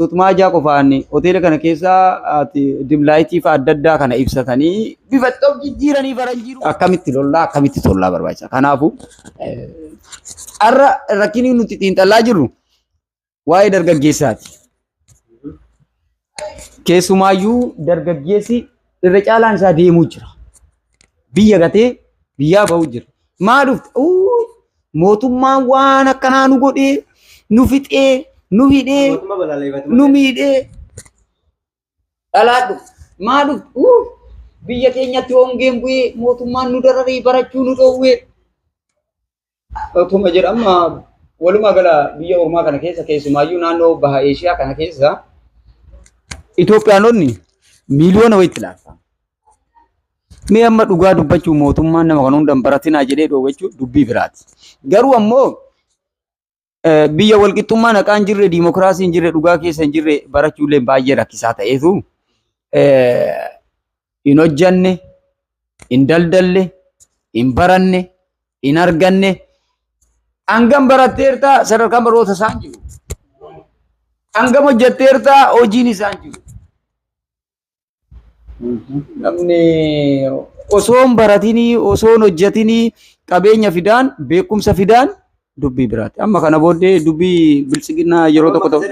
Tutmaa ijaa qofaan hoteela kana keessa ati dimlaayitii fa'a adda addaa kana ibsatanii bifa itti of jijjiiranii faranjii dhufu. akkamitti lollaa akkamitti tollaa barbaachisa. Kanaafuu eh, har'a rakkinni nuti xiinxallaa jirru waa'ee dargaggeessaati. Keessumaayyuu dargaggeessi irra caalaan isaa deemuu jira. Biyya gatee biyyaa ba'uu jira. Maa dhufte? Uu, Mootummaan waan akkanaa nu godhee, nu fixee, nu hidhee, Mootummaa balaaleffatu nu malee. miidhee. Dhalaa dhuftu. Maa dhuftu? Uu! Biyya keenyatti hongeen bu'ee mootummaan nu dararee barachuu nu dhoowwee. Otuma jedhu amma walumaa gala biyya ormaa kana keessa keessumaayyuu naannoo baha Eeshiyaa kana keessa Itoophiyaanonni miiliyoona wayitti laata. Mee amma dhugaa dubbachuu mootummaan nama kan hundan baratinaa jedhee dhoowwe jechuun dubbii biraati. Garuu ammoo eh, biyya walqixxummaa naqaa hin jirre, diimokiraasii hin jirre, dhugaa keessa hin jirre barachuullee baay'ee rakkisaa ta'eetu eh, hin hojjanne, hin daldalle, hin baranne, hin arganne. Hangam baratteerta sadarkaan baroota isaan jiru. Hangam hojjetteerta hojiin isaan jiru. Namni osoo hin baratinii, osoo hin hojjetinii qabeenya fidaan, beekumsa fidaan dubbii biraati. Amma kana booddee dubbii biltsiginnaa yeroo tokko tokko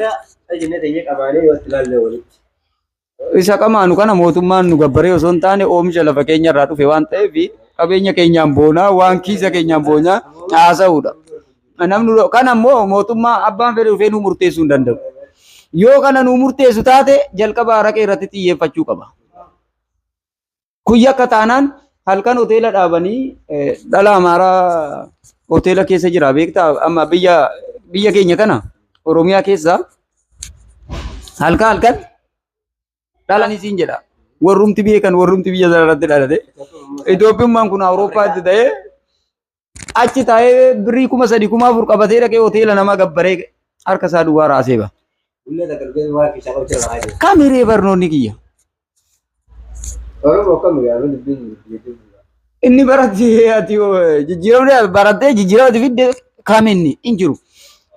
isa qamaanu kana mootummaan nu gabbaree osoo hin taane oomisha lafa keenya irraa dhufe waan ta'eef qabeenya keenyaan boonaa waan kiisa keenyaan boonaa haasa'uudha. Namni nu- kana immoo mootummaa abbaan fedhe dhufee nu murteessuu hin danda'u. Yoo kana nu murteessu taate jalqaba araqee irratti xiyyeeffachuu qaba. Kun yakka taanaan halkan hoteela dhaabanii eh, dhala amaaraa hoteela keessa jira beektaa amma biyya biyya keenya kana Oromiyaa keessa halkan halkan dhalanii siin jedha. Warrumti beekan warrumti biyya sana irratti dhalate. Itoophiyummaan kun Awurooppaatti ta'ee achi taa'ee birrii kuma sadi kuma afur qabatee dhaqee hoteela namaa gabbaree harka isaa duwwaa raasee ba. Bulla takka dhufee waan keessaa qabu jira laa jiru. Kam hiree barnoonni kiyya? Oromoo kam yaa mana dubbiin jechuun. Inni baratti ati jijjiiramne barattee jijjiiramati fidde kam inni hin jiru.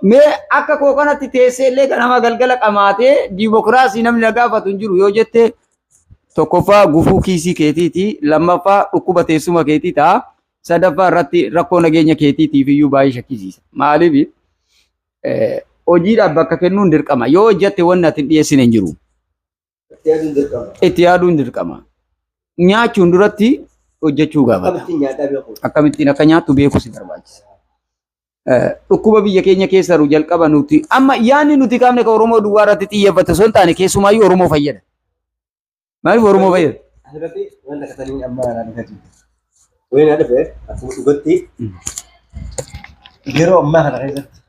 Mee akka koo kanatti teessee illee kan nama galgala qamaatee diimokiraasii namni na gaafatu hin jiru yoo jette tokkoffaa gufuu kiisii keetiiti lammaffaa dhukkuba teessuma keetii ta'a. Sadaffaa irratti rakkoo nageenya keetiitiif iyyuu baay'ee shakkisiisa. Maaliif hojiidhaaf bakka kennuun dirqama. Yoo hojjette wanni ati hin dhiyeessine hin jiru. Itti yaaduun dirqama. Nyaachuun duratti hojjechuu gaafata. Akkamittiin akka nyaattu beekuu si barbaachisa. Dhukkuba biyya keenya keessa jiru jalqaba nuti amma yaadni nuti kaafne kan Oromoo duwwaa irratti xiyyeeffate osoo hin taane keessumaayyuu Oromoo fayyada. Maaliif Oromoo fayyada? Asirratti waan dhaqatanii amma irraa dhugaa jiru. Wayii na dhufe akkuma dhugatti yeroo ammaa kana keessatti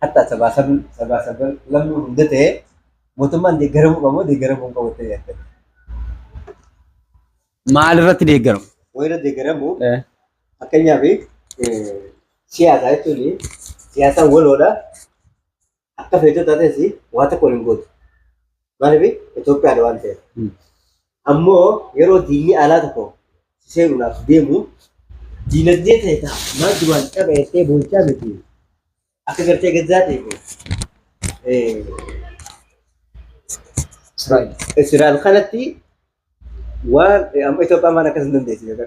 hatta sabaa sabi sabaa saban lammuu hunda ta'e mootummaan deeggaramuu qabu deeggaramuu hin qabu ta'e yaadda. Maal irratti deeggaru? Wayira deeggaramuu Eh, fakkeenyaaf siyaasaa jechuun siyaasaan waloodha. akka feetuu taates waa tokko hin gootu. Maaliif Itoophiyaadha waan ta'eef. Ammoo yeroo diinni alaa tokko si seenuudhaaf deemu diinagdee ta'e ta'a. Maal duraan qaba jettee boochaa miti. Akka gartee gazzaatii fi Israa'el. Israa'el kanatti waan amma Itoophiyaan waan akkas hin dandeessu jechuudha.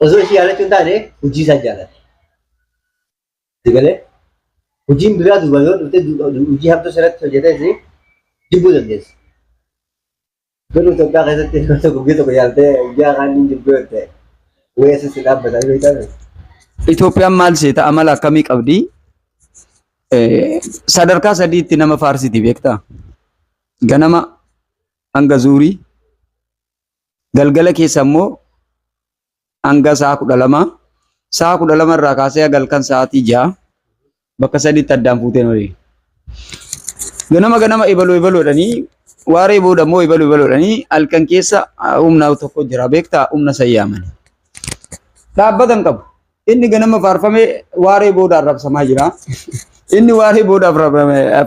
Osoo ishii jaalachuu hin taane hojii isaa jaalate. Si galee hojiin biraa duuba yoo dhufte hojii hamtuu sirratti hojjetes jibbuu dandeessi. Garuu Itoophiyaa keessatti nama tokko guyyaa tokko jaaltee guyyaa kaan hin jibbuu yoo ta'e weessa si dhaabbatanii beektan. Itoophiyaan maal seeta amala akkamii qabdi? Eh, Sadarkaa sadiitti nama faarsiti beektaa? Ganama hanga zuurii, Galgala keessa immoo hanga sa'a kudha lama sa'a kudha lama irraa kaasee galkan sa'aatii ja'a bakka sadiitti addaan fuuteen oli. Ganama ganama ebaloo ebaloodhanii waaree booda immoo ebaloo ebaloodhanii halkan keessa humna tokko jira beektaa humna sayyaamani. Dhaabbata hin qabu. Inni ganama faarfame waaree booda arrabsamaa jira. Inni waaree booda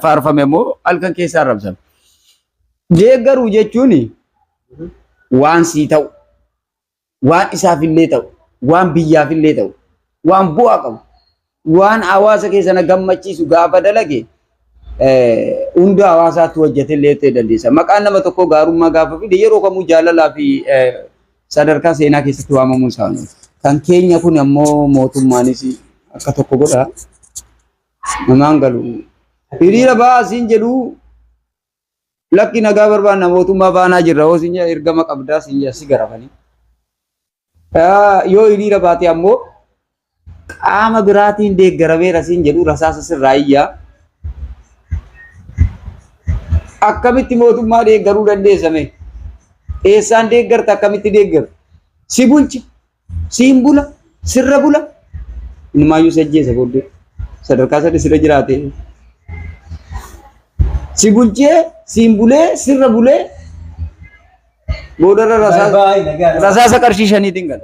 faarfame immoo halkan keessa arrabsama. Deeggaruu jechuun waan sii ta'u, waan isaaf illee ta'u, waan biyyaaf illee ta'u, waan bu'aa qabu, waan hawaasa keessana gammachiisu gaafa dalage hunda hawaasaatti hojjete illee ta'e dandeessa. Maqaan nama tokkoo gaarummaa gaafa fide yeroo kamuu jaalalaa fi sadarkaa seenaa keessatti waamamuu isaanii. Kan keenya kun ammoo mootummaanis akka tokko godha. Namaan galu. Hiriira ba'aa siin jedhu Lakki nagaa barbaanna mootummaa faanaa jirra hoo siin jedhan ergama qabdaa siin jedhan si garafanii. Yoo hiriira baate ammoo qaama biraatiin deeggarameera siin jedhu rasaasa sirraa iyyaa. Akkamitti mootummaa deeggaruu dandeessame? Eessaan deeggarta akkamitti deeggarta? Si bulcha. siin bula sirra bula inumaayyuu si ajjeesa booddee sadarkaa sadii sirra jiraate si bulchee siin bulee sirra bulee boodarra rasaasa rasaasa qarshii shaniitiin gala.